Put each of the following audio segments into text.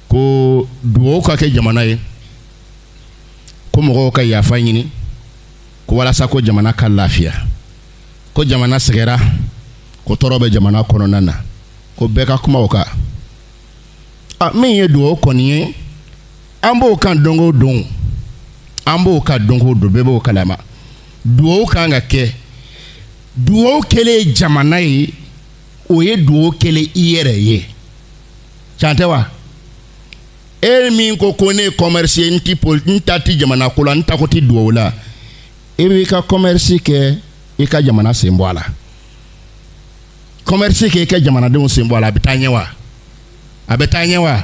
ko dugawu ka kɛ jamana ye ko mɔgɔw ka yafa ɲini ko walasa ko jamana ka lafiya ko jamana sɛgɛnna ko tɔɔrɔ bɛ jamana kɔnɔna na ko bɛɛ ka kuma o kan a min ye dugawu kɔni ye an b'o kan don o don an b'o kan don o don bɛɛ b'o kalama dugawu kan ka kɛ dugawu kɛlen jamana ye o ye dugawu kɛlen i yɛrɛ ye can tɛ wa e min ko ko ne ye commerce ye n ti pol n ta ti jamana ko la n tako ti dugawu la e b'i ka commerce kɛ i ka jamana sen bɔ a la commerce kɛ i ka jamanadenw sen bɔ a la a bɛ taa ɲɛ wa a bɛ taa ɲɛ wa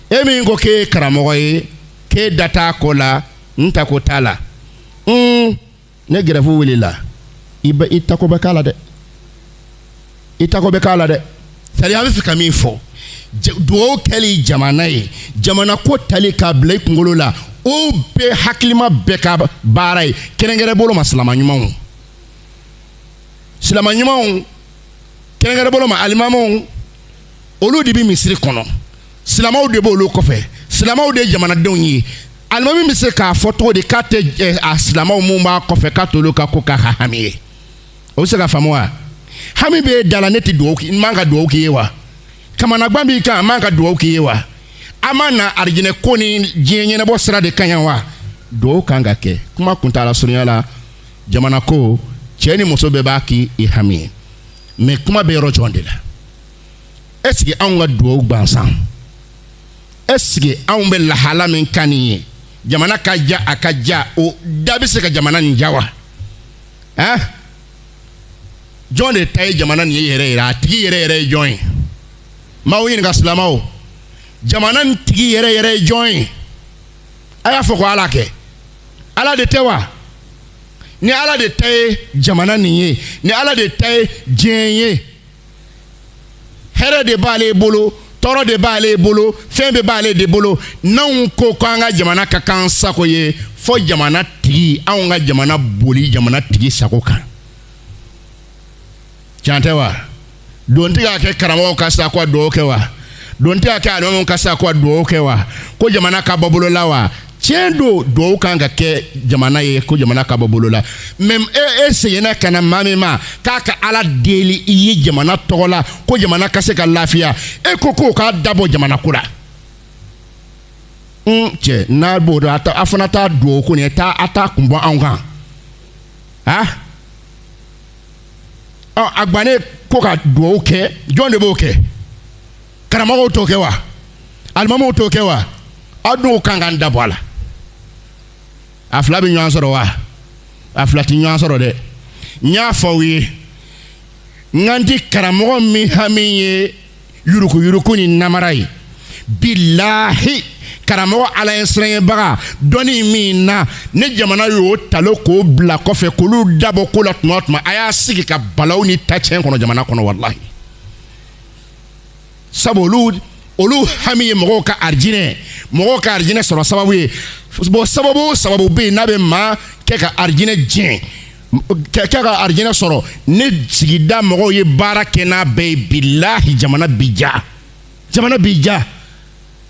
e min ko k'e ye karamɔgɔ ye k'e da t'a ko la n tako t'a la un ni gɛrɛfu wulila i bɛ i tako bɛ k'a la dɛ i tako bɛ k'a la dɛ sari an b'a fɛ ka min fɔ dugawu kɛli jamana ye jamana ko tali k'a bila i kunkolo la o bɛ hakilima bɛɛ ka baara ye kɛrɛnkɛrɛn bolo ma silama ɲumanw silama ɲumanw kɛrɛnkɛrɛn bolo ma alimamiw olu de bɛ misiri kɔnɔ silamɛw de b'olu kɔfɛ silamɛw de ye jamanadenw ye alimami bɛ se k'a fɔ cogo di k'a tɛ ɛ a silamɛw minnu b'a kɔfɛ k'a t'olu ka ko k'a ka hami ye o bɛ se ka faamu wa hami bɛ e de la ne tɛ dugawu k'i n man ka dugawu k'i ye wa kamanagwan b'i kan n man ka dugawu k'i ye wa an ma na arijinɛ ko ni diɲɛ ɲɛnabɔ sira de ka ɲi wa dugawu kan ka kɛ kuma kuntaala surunya la jamana ko cɛ ni muso bɛɛ b'a k'i i hami ye mɛ kuma bɛ yɔrɔ jɔn de la est-ce que anw ka dugawu gansan est-ce que anw bɛ lahala min kan nin ye jamana ka ja a ka ja o dan bɛ se ka jamana nin ja wa ɛn jɔn de ta ye jamana nin ye yɛrɛ yɛrɛ a tigi yɛrɛ yɛrɛ ye jɔn ye n b'aw ɲininka silamɛw jamana nin tigi yɛrɛ yɛrɛ ye jɔn ye a y'a fɔ ko ala kɛ ala de tɛ wa ni ala de ta ye jamana nin ye ni ala de ta ye diɲɛ ye hɛrɛ de b'ale bolo tɔɔrɔ de b'ale bolo fɛn bɛɛ b'ale de bolo n'anw ko ko an ka jamana ka k'an sago ye fo jamana tigi anw ka jamana boli jamana tigi sago kan can tɛ wa don tɛ k'a kɛ karamɔgɔw kan sa ko a dugawu kɛ wa don tɛ k'a kɛ alimamiw kan sa ko a dugawu kɛ wa ko jamana ka bɔ bolo la wa tiɲɛ don dugawu kan ka kɛ jamana ye ko jamana ka bɔ bolo la mɛ e, e seginna ka na maa min ma k'a ka ala deli i ye jamana tɔgɔ la ko jamana ka se ka lafiya e ko k'o k'a da bɔ jamana ko la n mm, cɛ n'a b'o dɔn a fana t'a dugawu ko nin ye taa a t'a kun bɔ anw kan a ɔ a gwannen ko ka dugawu kɛ jɔn de b'o kɛ karamɔgɔw t'o kɛ wa alimamiw t'o kɛ wa aw dun k'an k'an dabɔ a la a fila bɛ ɲɔgɔn sɔrɔ wa a fila tɛ ɲɔgɔn sɔrɔ dɛ n y'a fɔ aw ye n kan ti karamɔgɔ min hami ye yurukuyuruku ni namara ye bilahi karamɔgɔ ala ɲɛsiranbaga dɔnni min na ni jamana y'o talon k'o bila kɔfɛ k'olu dabɔ ko la tuma o tuma a y'a sigi ka balawu ni tacɛn kɔnɔ jamana kɔnɔ walahi sabu olu olu hami ye mɔgɔw ka arijinɛ mɔgɔw ka arijinɛ sɔrɔ sababu ye bɔn sababu sababu bɛ yen n'a bɛ maa kɛ ka arijinɛ diɲɛ kɛ ka arijinɛ sɔrɔ ni sigida mɔgɔw ye baara kɛ n'a bɛɛ ye bilahi jamana bi diya jamana bi diya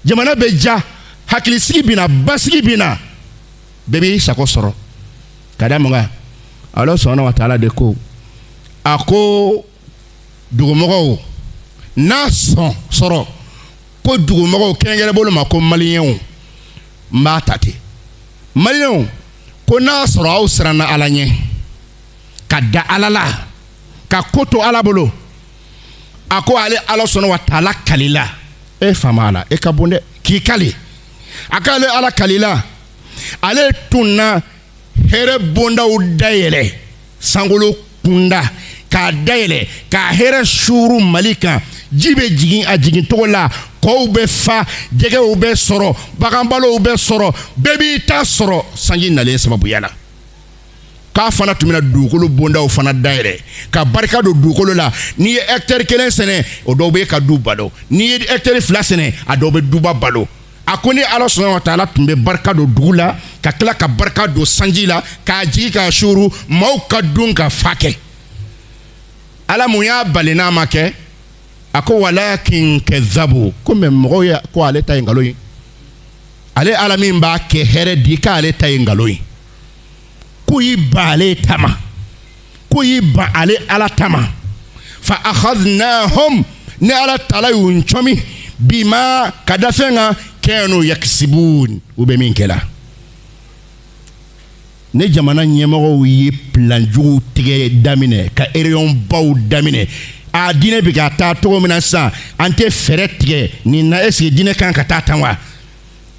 jamana bɛ diya hakilisigi bɛ na basigi bɛ na bɛɛ b'i sago sɔrɔ ka da mun kan ala subhana wa taala de ko a ko dugumɔgɔw n'a sɔn sɔrɔ ko dugumɔgɔw kɛrɛnkɛrɛn bolo ma ko maliyɛnw n b'a ta ten maliyɛnw ko n'a sɔrɔ aw siranna ala ɲɛ ka da ala la ka ko to ala bolo a ko ale ala subhana wa taala kalila e faama ala e ka bon dɛ k'i kali a k'ale ala kalila ale tun na hɛrɛ bondaw dayɛlɛ sankolo kunda k'a dayɛlɛ k'a hɛrɛ suuru mali kan ji bɛ jigin a jigin cogo la kɔw bɛ fa jɛgɛw bɛ sɔrɔ baganbalow bɛ sɔrɔ bɛɛ b'i ta sɔrɔ sanji nalen sababuya la k'a fana tun bɛna dugukolo bondaw fana dayɛlɛ ka barika don dugukolo la n'i ye hɛkitɛri kelen sɛnɛ o dɔw b'i ka du balo n'i ye hɛkitɛri fila sɛnɛ a dɔw bɛ duba balo a ko ne ala subhana wa taala tun bɛ barika don dugu la ka tila ka barika don sanji la k'a jigin k'a suuru maaw ka dun ka fa kɛ ala mun y'a bali n'a ma kɛ a ko walakin kazabu ko mɛ mɔgɔw ye ko ale ta ye nkalon ye ale ala min b'a kɛ hɛrɛ di k'ale ta ye nkalon ye k'u y'i ban ale ta ma k'u y'i ban ale ala ta ma fa akhadnahum ne ala taala y'u ncɔmi bima ka da fɛn kan kanu yakisibun u bɛ min kɛ la ni jamana ɲɛmɔgɔw ye plan juguw tigɛ daminɛ ka ereyɔn baw daminɛ a diinɛ bɛ ka taa cogo min na sisan an tɛ fɛɛrɛ tigɛ nin na eseke diinɛ kan ka taa tan wa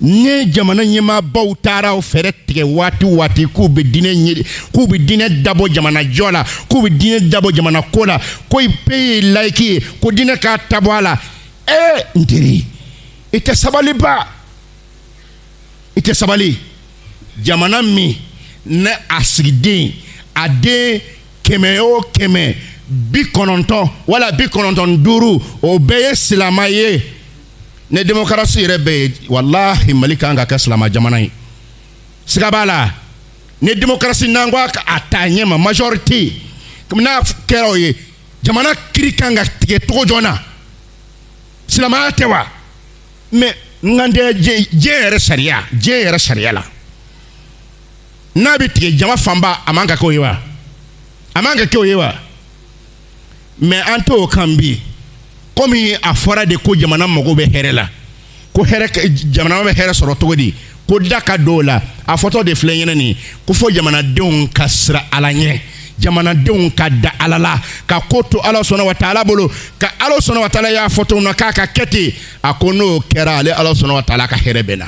ni jamana ɲɛmaabaw taara o fɛɛrɛ tigɛ waati waati k'u bɛ diinɛ ɲɛ k'u bɛ diinɛ dabɔ jamana jɔ la k'u bɛ diinɛ dabɔ jamana ko la ko peyi ye layiki ye ko diinɛ k'a da bɔ a la ee n teri i tɛ sabaliba i tɛ sabali jamana min ni a sigiden a den kɛmɛ o kɛmɛ bi kɔnɔntɔn wala bi kɔnɔntɔn duuru o bɛɛ ye silamɛ ye ni demokarasi yɛrɛ bɛ yen walahi mali kan ka kɛ silamɛ jamana ye siga b'a la ni demokarasi n'an ko a ta ɲɛ ma majorite n'a kɛra o ye jamana kiri kan ka tigɛ cogo jɔn na silamɛya tɛ wa mɛ n ka tɛ diɲɛ yɛrɛ sariya diɲɛ yɛrɛ sariya la n'a bɛ tigɛ jama fanba a man ka kɛ o ye wa a man ka kɛ o ye wa mɛ an t'o kan bi komi a fɔra de ko jamana mago bɛ hɛrɛ la ko jamana bɛ hɛrɛ sɔrɔ cogo di ko da ka dɔw la a fɔtɔ de filɛ ɲɛna nin ko fɔ jamanadenw ka siran ala ɲɛ jamanadenw ka da ala la ka ko to ala subahana wa taala bolo ka ala subahana wa taala y'a fɔ cogo min na k'a ka kɛ ten a ko n'o kɛra ale ala subahana wa taala ka hɛrɛ bɛ na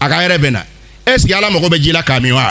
a ka hɛrɛ bɛ na est ce que ala mago bɛ ji la k'a min wa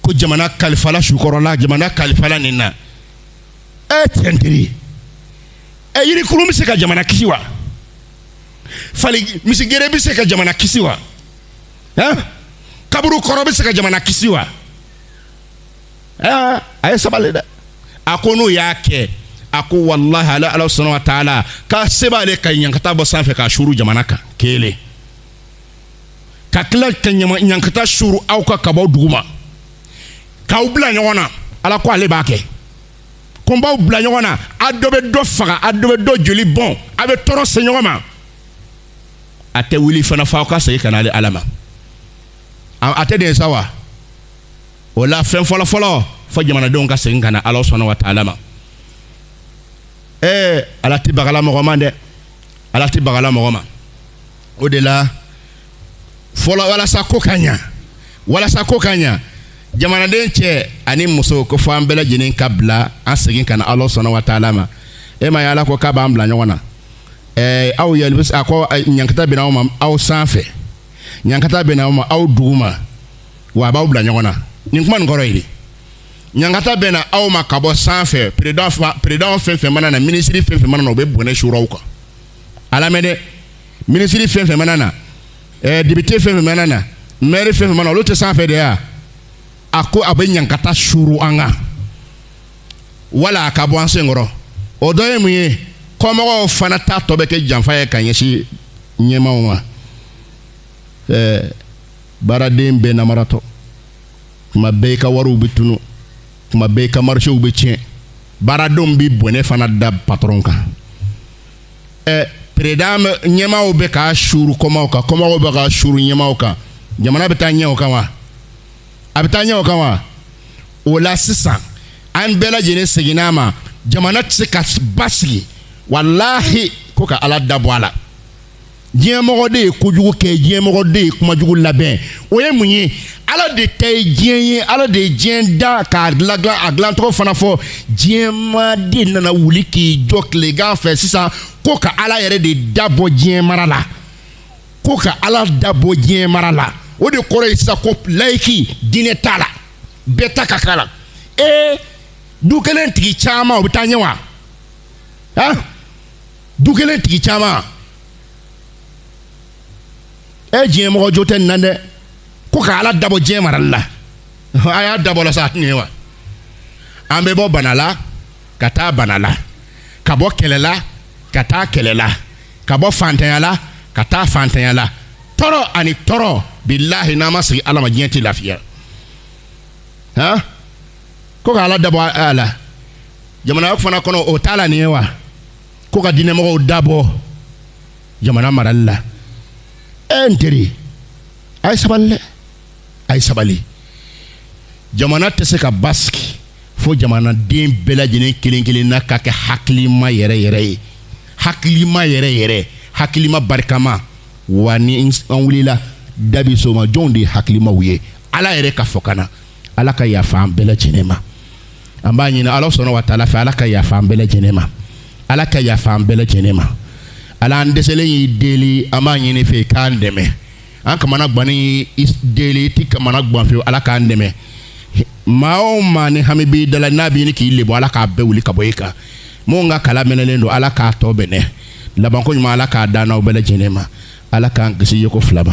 ko jamana kalifala su kɔrɔ la jamana kalifala nin na ɛ n teri ɛ yirikurun bɛ se ka jamana kisi wa fali misigere bɛ se ka jamana kisi wa ɛn kaburu kɔrɔ bɛ se ka jamana kisi wa ɛn a ye sabali dɛ a ko n'u y'a kɛ a ko walahi ale ala subahana wa taala k'a se b'ale ka ɲankata bɔ sanfɛ k'a suuru jamana kan kelen. ka tila ka ɲankata suuru aw kan ka bɔ dugu ma k'aw bila ɲɔgɔn na ala ko ale b'a kɛ ko n b'aw bila ɲɔgɔn na a dɔ bɛ dɔ faga a dɔ bɛ dɔ joli bɔn a bɛ tɔɔrɔ se ɲɔgɔn ma a tɛ wuli fana f'aw ka segin ka na ale ala ma a tɛ ten sa wa o la fɛn fɔlɔ fɔlɔ fo jamanadenw ka segin ka na ala subahana wa taala ma ɛɛ ala tɛ bagala mɔgɔ ma dɛ ala tɛ bagala mɔgɔ ma o de la fɔlɔ walasa ko ka ɲa walasa ko ka ɲa jamanaden cɛ ani muso ko fɔ an bɛɛ lajɛlen ka bila an segin ka na ala subahana wa taala ma e m'a ye ala ko k'a b'an bila ɲɔgɔn na ɛɛ aw yɛlɛ a ko ɲankata bɛna aw ma aw sanfɛ ɲankata bɛna aw ma aw duguma wa a b'aw bila ɲɔgɔn na nin kuma nin kɔrɔ ye de ɲankata bɛna aw ma ka bɔ sanfɛ peresidan fɛn fɛn mana na minisiri fɛn fɛn mana na o bɛ bɔnɛ suuru aw kan a lamɛn dɛ minisiri fɛn fɛn mana na ɛɛ eh, depite fɛn fɛn mana na mɛri fɛn fɛn mana olu tɛ sanfɛ de ya a ko a bɛ ɲankata suuru an kan wala a ka bɔ an sen kɔrɔ o dɔ ye mun ye kɔmɔgɔw fana ta tɔ bɛ kɛ janfa ye ka ɲɛsin ɲɛmaaw ma ɛɛ eh, baaraden bɛɛ namaratɔ tuma bɛɛ i ka wariw bɛ tunun. tuma bɛɛ ka marisew bɛ tiɲɛ baaradenw bɛ bɔnɛ fana da patɔrɔn kan ɛ peresidan ɲɛmaaw bɛ k'a suuru kɔmaaw kan kɔmaaw bɛ k'a suuru ɲɛmaaw kan jamana bɛ taa ɲɛ o kan wa a bɛ taa ɲɛ o kan wa o la sisan an bɛɛ lajɛlen segin ala ma jamana tɛ se ka basigi walahi ko ka ala dabɔ a la diɲɛmɔgɔ de ye kojugu kɛ diɲɛmɔgɔ de ye kuma jugu labɛn o ye mun ye ala de ta ye diɲɛ ye ala de ye diɲɛ da k'a dilan k'a dilancogo fana fɔ diɲɛmaa de nana wuli k'i jɔ tilegan fɛ sisan ko ka ala yɛrɛ de dabɔ diɲɛ mara la ko ka ala dabɔ diɲɛ mara la o de kɔrɔ ye sisan ko layiki diinɛ t'a la bɛɛ ta ka k'a la ee du kelen tigi caman o bɛ taa ɲɛ wa du kelen tigi caman e diɲɛmɔgɔ jo tɛ nin na dɛ ko ka ala dabɔ diɲɛ marali la a y'a dabɔ a la sa nin ye wa an bɛ bɔ bana la ka taa bana la ka bɔ kɛlɛ la ka taa kɛlɛ la ka bɔ fantanya la ka taa fantanya la tɔɔrɔ ani tɔɔrɔ bilahi n'an ma segin ala ma diɲɛ tɛ lafiya han ko ka ala dabɔ a la jamana fana kɔnɔ o t'a la nin ye wa ko ka diinɛmɔgɔw dabɔ jamana marali la e n teri a ye sabali dɛ a ye sabali jamana tɛ se ka basigi fo jamanaden bɛɛ lajɛlen kelen kelen na ka kɛ hakilima yɛrɛ yɛrɛ ye hakilima yɛrɛ yɛrɛ hakilima barikama wa ni an wulila dabi soma jɔnw de ye hakilimaw ye ala yɛrɛ ka fɔkan na ala ka yafa an bɛɛ lajɛlen ma an b'a ɲini ala subhanahu wa taala fɛ ala ka yafa an bɛɛ lajɛlen ma ala ka yafa an bɛɛ lajɛlen ma ala an dɛsɛlen y'i deli an b'a ɲini i fɛ k'an dɛmɛ an kamanagannen y'i deli i ti kamanagan fewu ala k'an dɛmɛ maa o maa ni hami b'i dala n'a b'a ɲini k'i lebu ala k'a bɛɛ wuli ka bɔ i kan minnu ka kala mɛnɛlen don ala k'a tɔ mɛnɛ labanko ɲuman ala k'a d'an n'aw bɛɛ lajɛlen ma ala k'an kisi yeko fila ma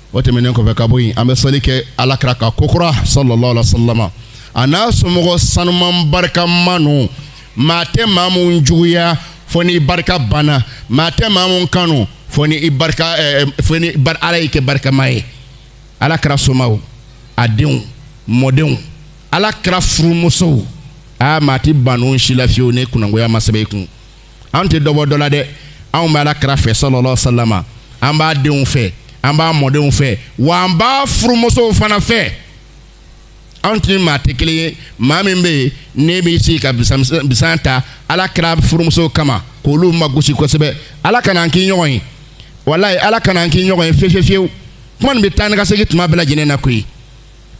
o tɛmɛnen kɔfɛ ka bɔ yen an bɛ sali kɛ ala kira kan kokura sallallahu alaihi wasallam a n'a somɔgɔ sanuman barikama ninnu maa tɛ maa minnu juguya fo n'i barika banna maa tɛ maa minnu kanu fo ni i barika eh, eh, fo ni bar ala y'i kɛ barikama ye ala kira somaaw a denw mɔdenw ala kira furumusow aa maa ti ban u si la fewu ni kunangoya ma sɛbɛn i kun an tɛ dɔ bɔ dɔ la dɛ anw bɛ ala kira fɛ salalahu a salama an b'a denw fɛ an b'a mɔdenw fɛ wa an b'a furumusow fana fɛ anw tɛ maa tɛ kelen ye maa min bɛ yen n'e b'i sigi ka bisan ta ala kira furumusow kama k'olu magosi kosɛbɛ ala kana an k'i ɲɔgɔn ye walayi ala kana an k'i ɲɔgɔn ye fiyewu fiyewu kuma nin bɛ taa ni ka segin tuma bɛɛ lajɛlen na koyi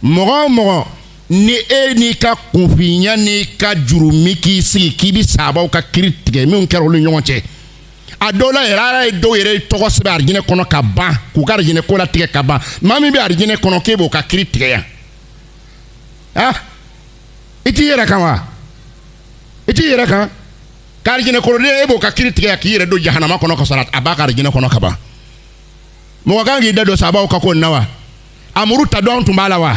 mɔgɔ o mɔgɔ ni e n'i ka kunfinya n'i ka jurumu k'i sigi k'i bɛ sabaw ka kiri tigɛ minnu kɛra olu ɲɔgɔn cɛ a dɔw la yɛrɛ ala ye dɔw yɛrɛ tɔgɔ sɛbɛn arijinɛ kɔnɔ ka ban k'u ka arijinɛ ko latigɛ ka ban maa min bɛ arijinɛ kɔnɔ k'e b'o ka kiri tigɛ yan ah i t'i yɛrɛ kan wa i t'i yɛrɛ kan ka arijinɛ kɔnɔ den e b'o ka kiri tigɛ yan k'i yɛrɛ don jahanama kɔnɔ ka sɔrɔ a b'a ka arijinɛ kɔnɔ ka ban mɔgɔ kan k'i da don sabaw ka ko na wa a muru ta don an tun b'a la wa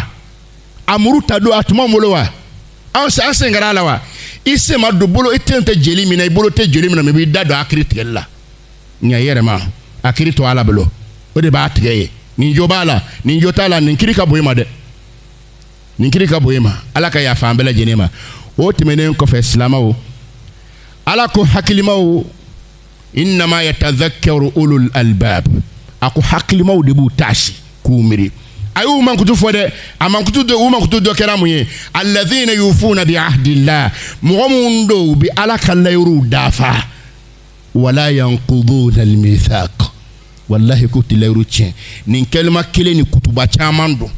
a muru ta don a tun b'an bolo wa an sen an sen kɛra a la wa i sen ma don bolo i sen tɛ jeli min na i bolo tɛ jeli min na mɛ i b'i da don a kiri tigɛli la nka i yɛrɛ ma a kiri to ala bolo o de b'a tigɛ ye nin jo b'a la nin jo t'a la nin kiri ka bon i ma dɛ nin kiri ka bon i ma ala ka yafa an bɛɛ lajɛlen ma o tɛmɛnen kɔfɛ silamaw ala ko hakilimaw innama yatazakaru ulul albab a ko hakilimaw de b'u taasi k'u miiri a y'u mankutu fɔ dɛ a mankutu dɔ u mankutu dɔ kɛra mun ye alazina yufuna bi ahdillah mɔgɔ minnu don u bɛ ala ka layiruw dafa wala yankuduna almithaq wa ala k'u tɛ layiru tiɲɛ nin kalima kelen nin kutuba caman don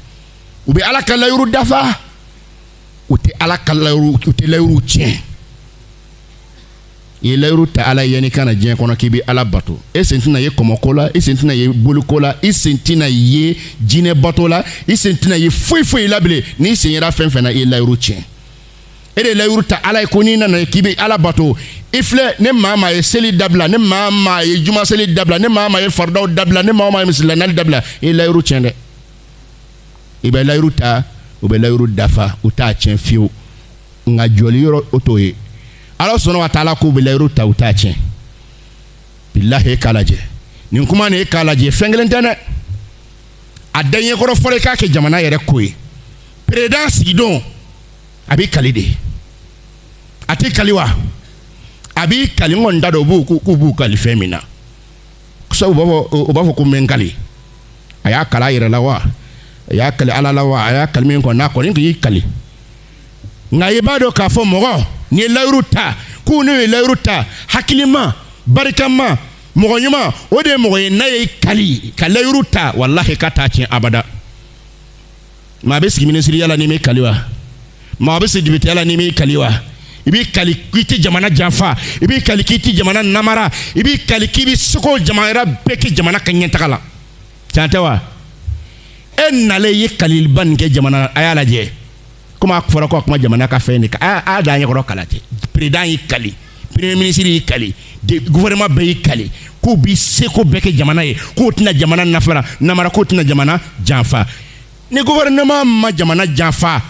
u bɛ ala ka layiru dafa u tɛ ala ka layiru u tɛ layiru tiɲɛ i ye layiru ta ala ye n'i ka na diɲɛ kɔnɔ k'i bɛ ala bato e sen tɛna ye kɔmɔko la i sen tɛna ye boliko la i sen tɛna ye jinɛ bato la i sen tɛna ye foyi foyi la bilen n'i sen yera fɛn fɛn na i ye layiru tiɲɛ e de ye layiru ta ala ye ko n'i nana k'i bɛ ala bato i filɛ ni maa maa ye seli dabila ni maa maa ye juma seli dabila ni maa maa ye faridaw dabila ni maa maa ye misiri la nali dabila i ye layiru tiɲɛ dɛ i bɛ layiru ta u bɛ layiru dafa u t'a tiɲɛ fiyewu nka jɔli yɔrɔ o t'o ye ala sɔnna ka taa ala k'u bɛ layiru ta u t'a tiɲɛ bilahi e k'a lajɛ nin kuma nin e k'a lajɛ fɛn kelen tɛ dɛ a daɲɛkɔrɔ fɔlɔ i k'a kɛ jamana yɛrɛ ko ye peresidan sigi don a b'i kali de a t'i kali wa a b'i kali n kɔni t'a dɔn u b'u k'u b'u kali fɛn min na sabu b'a fɔ o b'a fɔ ko n bɛ n kali a y'a kali a yɛrɛ la wa a y'a kali ala la wa a y'a kali min kɔni na a kɔni k'i kali nka i b'a dɔn k'a fɔ mɔgɔ n'i ye layiru ta k'u n'u ye layiru ta hakilima barikama mɔgɔ ɲuman o de ye mɔgɔ ye n'a y'i kali ka layiru ta walahi k'a t'a tiɲɛ abada maa a bɛ sigi minisiriya la n'i m'i kali wa maa a bɛ sigi depiteya la n'i m'i kali wa i b'i kali k'i tɛ jamana janfa i b'i kali k'i tɛ jamana namara i b'i kali k'i bɛ seko jamana bɛɛ kɛ jamana ka ɲɛtaga la tiɲɛ tɛ wa e nalen i ye kaliliba nin kɛ jamana a y'a lajɛ komi a fɔra ko a kuma jamana ka fɛn de kan a y'a da an ɲɛkɔrɔ k'a lajɛ président y'i kali premier ministre y'i kali gouvernement bɛɛ y'i kali k'u bi seko bɛɛ kɛ jamana ye k'u tɛna jamana nafara namara k'u tɛna jamana janfa ni gouvernement ma jamana janfa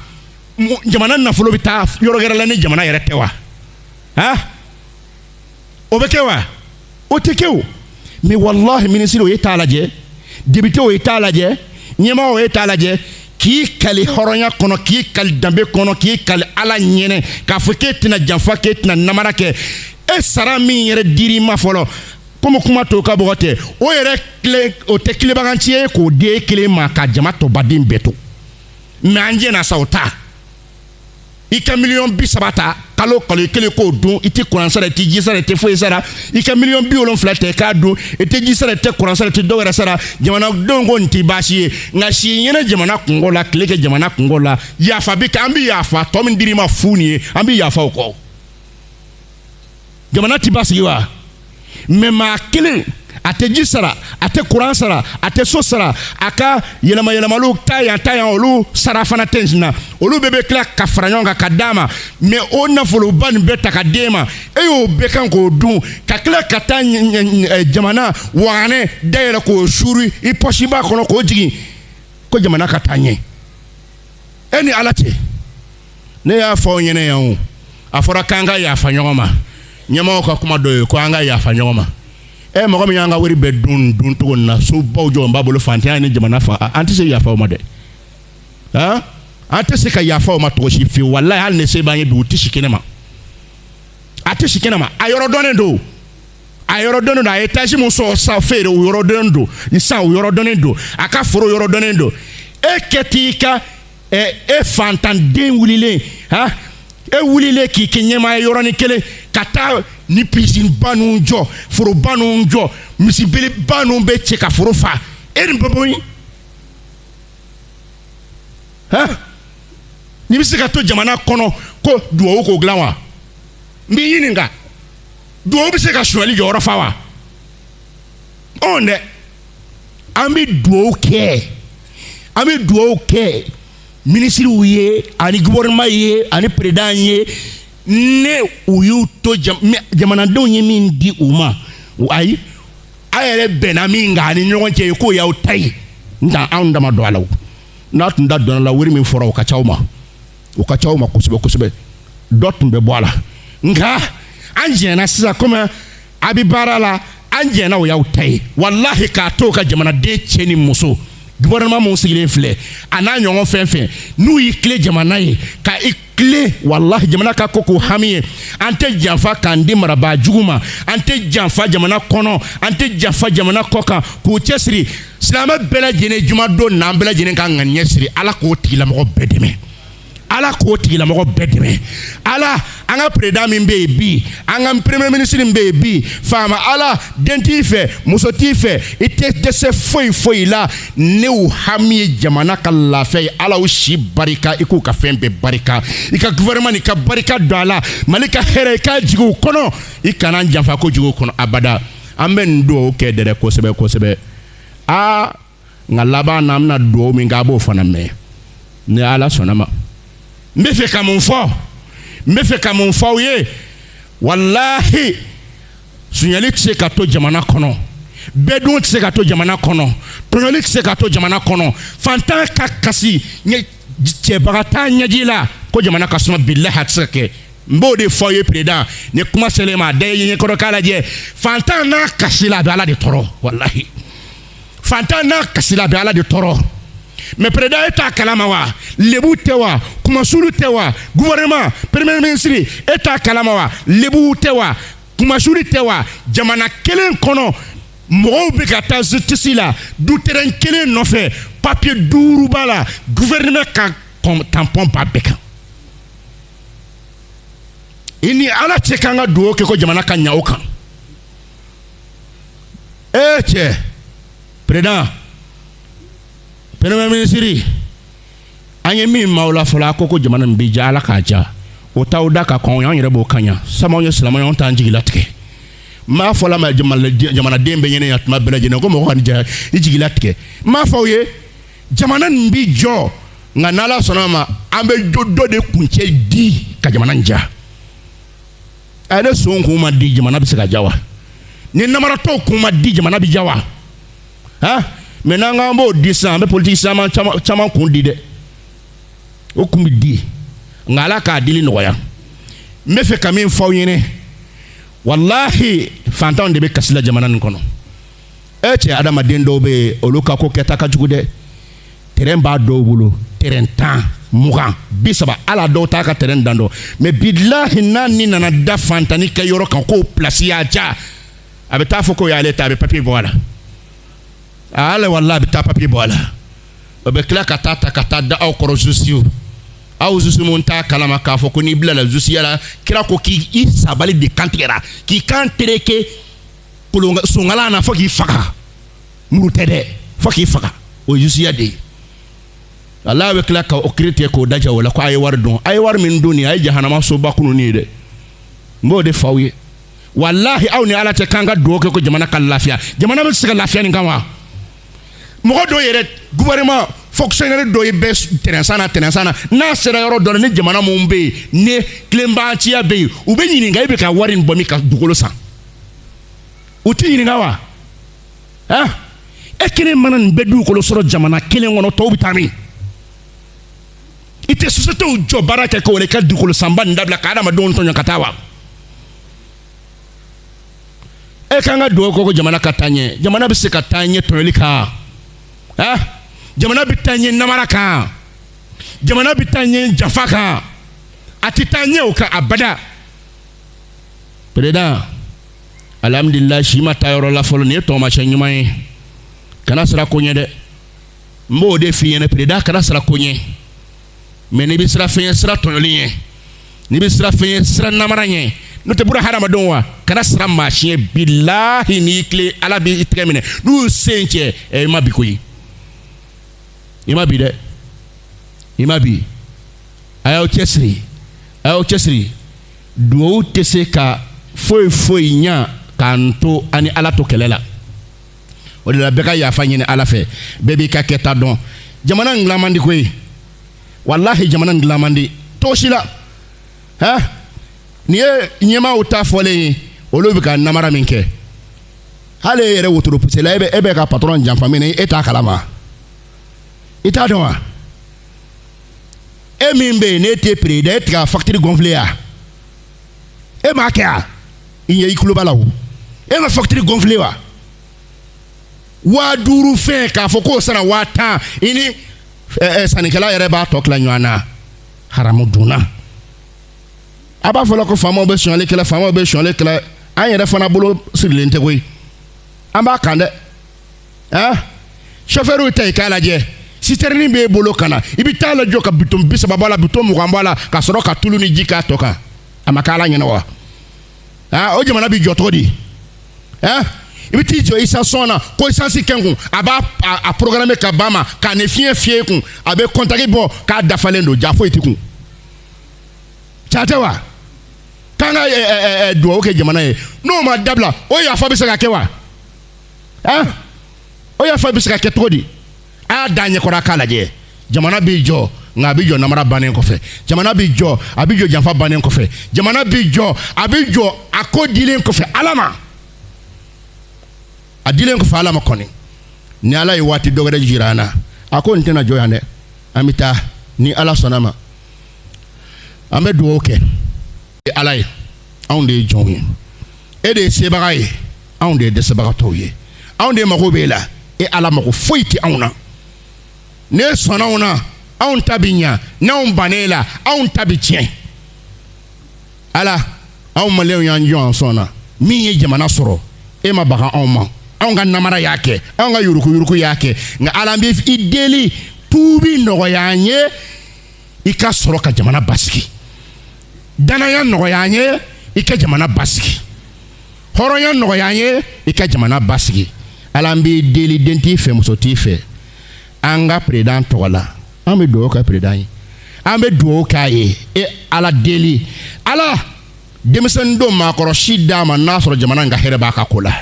jamana nafolo bɛ taa yɔrɔ wɛrɛ la ni jamana yɛrɛ tɛ wa han o bɛ kɛ wa o tɛ kɛ o mɛ walahi minisiriw ye t'a lajɛ depitew ye t'a lajɛ ɲɛmaaw ye t'a lajɛ k'i kali hɔrɔnya kɔnɔ k'i kali danbe kɔnɔ k'i kali ala ɲɛnɛ k'a fɔ k'e tɛna janfa k'e tɛna namara kɛ e sara min yɛrɛ dir'i ma fɔlɔ komi kuma to ka bɔgɔ tɛ o yɛrɛ tilen o tɛ tilabaganci ye k'o di e kelen ma ka jama tɔ baden bɛɛ to mɛ an jɛnna sa o ta i ka miliyɔn bi saba ta kalo kalo i kelen k'o dun i tɛ kuran sara i tɛ ji sara i tɛ foyi sara i ka miliyɔn bi wolonfila ta i k'a dun i tɛ ji sara i tɛ kuran sara i tɛ dɔ wɛrɛ sara jamanadenw ko nin tɛ baasi ye nka si ɲɛna jamana kunko la tile kɛ jamana kunko la yafa bi kɛ an bɛ yafa tɔ min dir'i ma fu nin ye an bɛ yafa o kɔ. jamana ti basigi wa mɛ maa kelen a tɛ ji sara a tɛ kuran sara a tɛ so sara a ka yɛlɛma yɛlɛmaliw ta yan ta yan olu sara fana tɛ na olu bɛɛ bɛ tila ka fara ɲɔgɔn kan ka d'a ma mɛ o nafoloba nin bɛɛ ta ka d'e ma e y'o bɛɛ kan k'o dun ka tila ka taa jamana waganɛ dayɛlɛ k'o suuri i pɔsiba kɔnɔ k'o jigin ko jamana ka taa ɲɛ e ni ala cɛ ne y'a fɔ aw ɲɛna yan o a fɔra k'an ka yafa ɲɔgɔn ma ɲɛmɔgɔw ka kuma dɔ ye ko an ka yafa ɲɔgɔn ma e mɔgɔ min y'an ka wari bɛɛ dun dun cogo na sobaw jɔlen b'a bolo fantanya ni jamana fa an tɛ se yafa o ma dɛ han an tɛ se ka yafa o ma cogo si fiyewu walayi hali ni se b'an ye bi u tɛ si kɛnɛ ma a tɛ si kɛnɛ ma a yɔrɔ dɔnnen don a yɔrɔ dɔnnen don a y'etazi min sɔrɔ sa feere o yɔrɔ dɔnnen don ni sa o yɔrɔ dɔnnen don a ka foro yɔrɔ dɔnnen don e kɛ t'i ka ɛ e fantanden wulilen han e wulilen k'i kɛ ɲɛmaa ye yɔrɔnin kelen ka taa ni pisinba ninnu jɔ foroba ninnu jɔ misi beleba ninnu bɛɛ cɛ ka foro fa e nin bɛ bɔ yen han n'i bɛ se ka to jamana kɔnɔ ko duwawu k'o dilan wa n b'i ɲininka duwawu bɛ se ka sonyali jɔyɔrɔ fa wa ɔn dɛ. an bɛ dugawu kɛ an bɛ dugawu kɛ minisiriw ye ani gouvernement ye ani président ye ni u y'u to jamanadenw ye min di u ma ayi a yɛrɛ bɛnna min kan ani ɲɔgɔn cɛ ye k'o y'aw ta ye nka anw da ma don a la n'an tun da don a la wari min fɔra o ka ca aw ma o ka ca aw ma kosɛbɛ kosɛbɛ dɔ tun bɛ bɔ a la nka an jɛnna sisan komi a bɛ baara la an jɛnna o y'aw ta ye walahi k'a to ka jamanaden cɛ ni muso gouvernement min sigilen filɛ a n'a ɲɔgɔn fɛn fɛn n'u y'i tilen jamana ye ka i tilen walahi jamana ka ko k'u hami ye an tɛ janfa k'an di marabaa jugu ma an tɛ janfa jamana kɔnɔ an tɛ janfa jamana kɔkan k'u cɛsiri silamɛ bɛɛ lajɛlen jumadon n'an bɛɛ lajɛlen k'an ŋaniya siri ala k'o tigilamɔgɔ bɛɛ dɛmɛ ala k'o tigilamɔgɔ bɛɛ dɛmɛ ala an ka peredan min bɛ yen bi an ka premier ministre min bɛ yen bi faama ala den t'i fɛ muso t'i fɛ i tɛ dɛsɛ foyi foyi la ni u hami ye jamana ka lafiya ye ala u si barika i k'u ka fɛn bɛɛ barika i ka gouvernement nin i ka barika don a la mali ka hɛrɛ i k'a jigin u kɔnɔ i kana janfa ko jigin u kɔnɔ abada an bɛ nin dugawu kɛ dɛrɛ kosɛbɛ kosɛbɛ aa nka laban na an bɛna dugawu min kɛ a b'o fana mɛn ni ala sɔnna ma n bɛ fɛ ka min fɔ n bɛ fɛ ka min fɔ aw ye walahi sonyali tɛ se ka to jamana kɔnɔ bɛɛ dun tɛ se ka to jamana kɔnɔ tɔɲɔli tɛ se ka to jamana kɔnɔ fantan ka kasi cɛbaga t'a ɲɛji la ko jamana ka suma bilahi a tɛ se ka kɛ n b'o de fɔ ye peredan ni kuma selen ma da ye ɲɛkɔrɔ k'a lajɛ fantan n'a kasila a bɛ ala de tɔɔrɔ walahi fantan n'a kasila a bɛ ala de tɔɔrɔ mɛ peredan e t'a kalama wa lebu tɛ wa kunmasuli tɛ wa guvɛrɛnɛman premier ministre e t'a kalama wa lebu tɛ wa kunmasuli tɛ wa jamana kelen kɔnɔ mɔgɔw bɛ ka taa zutisi la du terɛn kelen nɔfɛ papiye duuru b'a la guvɛrɛnɛman ka tanpɔn b'a bɛɛ kan i ni ala cɛ k'an ka dugawu kɛ ko jamana ka ɲa o kan ee cɛ peredan premier ministre an ye min mɛn aw la fɔlɔ a ko ko jamana nin bɛ ja ala k'a ja o t'aw da ka kɔn an yɛrɛ b'o ka ɲa sabu ye silamɛ anw t'an jigi latigɛ n b'a fɔ la ma jamanaden bɛɛ ɲɛna yan tuma bɛɛ lajɛlen ko mɔgɔ ka nin ja i jigi latigɛ n b'a fɔ aw ye jamana nin bi jɔ nka n'ala sɔnna a ma an bɛ jo dɔ de kuncɛ di ka jamana in ja a ni son kun ma di jamana bɛ se ka ja wa ni namaratɔw kun ma di jamana bɛ ja wa han mɛ n'an k'an b'o di sisan an bɛ politiki caman caman kun di dɛ o kun bɛ di nka ala k'a dili nɔgɔya n bɛ fɛ ka min fɔ aw ɲɛna walahi fantanw de bɛ kasi la jamana nin kɔnɔ e cɛ adamaden dɔw bɛ yen olu ka ko kɛta ka jugu dɛ terɛn b'a dɔw bolo terɛn tan mugan bi saba ala dɔw t'a ka terɛn dan dɔn mɛ bilahi n'a ɲɛ nana da fantannin ka yɔrɔ kan k'o pilasi y'a ja a bɛ taa fɔ k'o y'ale ta a bɛ papiye bɔ a la a ale wala a bɛ taa papiye bɔ a la o bɛ tila ka taa ta ka taa da aw kɔrɔ zuzuw aw zuzu min t'a kalama k'a fɔ ko n'i bilala zuzuya la kira ko k'i i sabali de kantigɛra k'i kan tereke kolon sonkala na fo k'i faga muru tɛ dɛ fo k'i faga o ye zuzuya de ye ala bɛ tila ka o kiri tigɛ k'o dajɛ o la ko a ye wari dun a ye wari min dun nin a ye jahanama soba kunun ye dɛ n b'o de f'aw ye walahi aw ni ala cɛ k'an ka dugawu kɛ ko jamana ka lafiya jamana bɛ se ka lafiya nin kan wa mɔgɔ dɔw yɛrɛ gouvernement fonctionnaire dɔ ye bɛ terɛn san na terɛn san na n'a sera yɔrɔ dɔ la ni jamana min bɛ yen ni tilenbanciya bɛ yen u b'i ɲininka e bɛ ka wari in bɔ min ka dugukolo san u t'i ɲininka wa ah e kelen mana nin bɛɛ dugukolo sɔrɔ jamana kelen kɔnɔ tɔw bɛ taa min i tɛ sosiyetew jɔ baara kɛ k'o de ka dugukolo sanba nin dabila ka adamadenw tɔɲɔ ka taa wa e k'an ka dugawu kɛ ko jamana ka taa ɲɛ jamana bɛ se ka taa ɲɛ tɔɲɔli kan ah jamana bɛ taa ɲɛ namara kan jamana bɛ taa ɲɛ janfa kan a tɛ taa ɲɛ o kan abada peredan alihamudulila si ma taa yɔrɔ la fɔlɔ nin ye tɔgɔmasɛn ɲuman ye kana siran ko ɲɛ dɛ n b'o de f'i ɲɛna peredan kana siran ko ɲɛ mɛ n'i bɛ siran fɛn ɲɛ siran tɔɲɔli ɲɛ n'i bɛ siran fɛn ɲɛ siran namara ɲɛ n'o tɛ buna hadamadenw wa kana siran maa si ɲɛ bilahi n'i tilen ala b'i tɛgɛ minɛ n'u sen cɛ ɛ i ma bin koyi i ma bin dɛ i ma bin a y'aw cɛsiri a y'aw cɛsiri duwawu tɛ se ka foyi foyi ɲa k'an to an ni ala to kɛlɛ la o de la bɛɛ ka yafa ɲini ala fɛ bɛɛ b'i ka kɛta dɔn jamana in dilan man di koyi walahi jamana in dilan man di cogo si la hɛn nin ye ɲɛmaaw ta fɔlen ye olu bɛ ka namara min kɛ hali e yɛrɛ wotoro pusela e bɛ e bɛ ka patɔrɔn janfa min na e t'a kalama i t'a dɔn wa. e min bɛ yen n'e tɛ pere dɛ e tɛ ka fakitiri gɔnfile wa e m'a kɛ a i ɲɛ i tulo b'a la o e ma fakitiri gɔnfile wa waa duuru fɛn k'a fɔ k'o sanna waa tan i ni ɛɛ sannikɛla yɛrɛ b'a tɔ tila ɲɔgɔn na haramu dunna a b'a fɔ la ko faamaw bɛ sonyali kɛ la faamaw bɛ sonyali kɛ la an yɛrɛ fana bolo sirilen tɛ koyi an b'a kan dɛ. aa sɔfɛriw ta i k'a lajɛ sitɛrini b'e bolo ka na i bɛ t'a lajɔ ka bidɔn bi saba b'a la bidɔn mugan b'a la ka sɔrɔ ka tulu ni ji k'a tɔ kan a ma k'ala ɲɛ na wa aa o jamana bɛ jɔ cogo di aa i bɛ t'i jɔ istasɔn na ko isansi kɛ n kun a b'a a programme ka ba ma k'a ni fiɲɛ fiyɛ i kun a bɛ kɔntaki bɔ k'a dafalen don jaa foyi t'i kun can tɛ wa k'an ka dugawu kɛ jamana ye n'o ma dabila o yafa bɛ se ka kɛ wa. ah o yafa bɛ se ka kɛ cogo di a y'a da ɲɛkɔrɔ a k'a lajɛ jamana b'i jɔ nka a bɛ jɔ namara bannen kɔfɛ jamana b'i jɔ a bɛ jɔ janfa bannen kɔfɛ jamana b'i jɔ a bɛ jɔ a ko dilen kɔfɛ ala ma a dilen kɔfɛ ala ma kɔni ni ala ye waati dɔ wɛrɛ jira an na a ko nin tɛna jɔ yan dɛ an bɛ taa ni ala sɔnna ma an bɛ dugawu kɛ e ala ye anw de ye jɔnw ye e de ye sebaga ye anw de ye dɛsɛbagatɔw ye anw de mago b'e la e ala mago foyi tɛ anw na n'e sɔnna an na anw ta bi ɲa n'anw banna la anw ta bi tiɲɛ ala anw maliyɛnw y'an jɔ an sɔn na min ye jamana sɔrɔ e ma baga anw ma anw ka namara y'a kɛ anw ka yurukuyuruku y'a kɛ nka ala an bɛ i deli tuubi nɔgɔya an ye i ka sɔrɔ ka jamana basigi danaya nɔgɔya an ye i ka jamana basigi hɔrɔnya nɔgɔya an ye i ka jamana basigi ala an b'i deli den t'i fɛ muso t'i fɛ an ka peresidan tɔgɔ la an bɛ dugawu kɛ peresidan ye an bɛ dugawu k'a ye e ala deli ala denmisɛnnin don maakɔrɔ si d'a ma n'a sɔrɔ jamana in ka hɛrɛ b'a ka ko la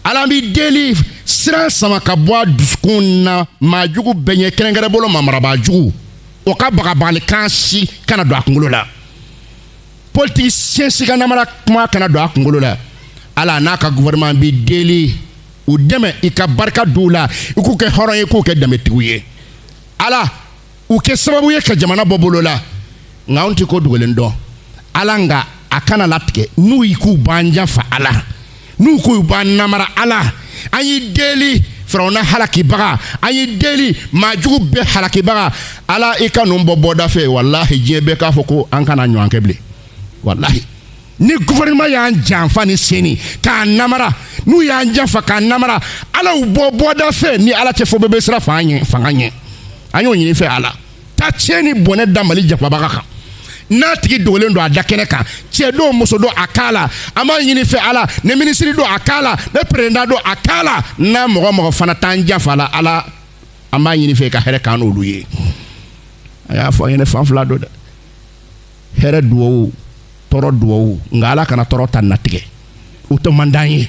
ala an b'i deli siran sama ka bɔ a dusukun na maa jugu bɛɛ ɲɛ kɛrɛnkɛrɛn bolo ma marabaa jugu o ka bagabagalikan si kana don a kunkolo la politikisiyɛn si ka namara kuma kana don a kunkolo la ala n'a ka gouvernement b'i deli u dɛmɛ i ka barika d'u la i k'u kɛ hɔrɔn ye i k'u kɛ danbetigiw ye ala u kɛ sababu ye ka jamana bɔ bolo la nka anw tɛ ko dogolen dɔn ala nka a kana latigɛ n'u y'i k'u b'an janfa ala n'u ko u b'an namara ala an y'i deli firawuna halakibaga an y'i deli maajugu bɛɛ halakibaga ala i ka ninnu bɔ bɔda fɛ walahi diɲɛ bɛɛ k'a fɔ ko an kan'a ɲɔgɔn kɛ bilen walahi ni gouvernement y'an janfa ni seni k'an namara n'u y'an janfa k'an namara ala u bɔ bɔda fɛ ni ala tɛ fo bɛɛ bɛ siran fanga ɲɛ an y'o ɲini i fɛ ala ta tiɲɛ ni bɔnɛ da mali janfabaga kan n'a tigi dogolen don a da kɛnɛ kan cɛ don muso don a k'a la an b'a ɲini i fɛ ala ni minisiri don a k'a la ni peresidan don a k'a la n'a mɔgɔ o mɔgɔ fana t'an janfa la ala an b'a ɲini i fɛ ka hɛrɛ k'an n'olu ye a y'a fɔ an ye ne fan fila don dɛ hɛrɛ duwawu tɔɔrɔ duwawu nka ala kana tɔɔrɔ ta latigɛ o ta man d'an ye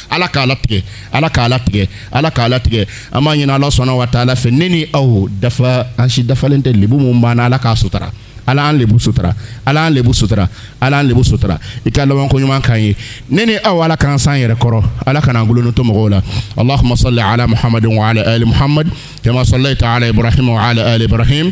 Ala k'a latigɛ Ala k'a latigɛ Ala k'a latigɛ an b'a ɲini Alahu subahana wataala fɛ ne ni aw dafa an si dafalen tɛ lebu min b'an na Ala k'a sutara Ala y'an lebu sutara Ala y'an lebu sutara Ala y'an lebu sutara i ka laban ko ɲuman k'an ye ne ni aw Ala k'an s'an yɛrɛ kɔrɔ Ala kan'an goloni to mɔgɔw la Allahuma sɔli ala Muhamadin wa ala ali Muhamadi kama sɔlɛyita ala Ibarahima wa ala ali Ibarahima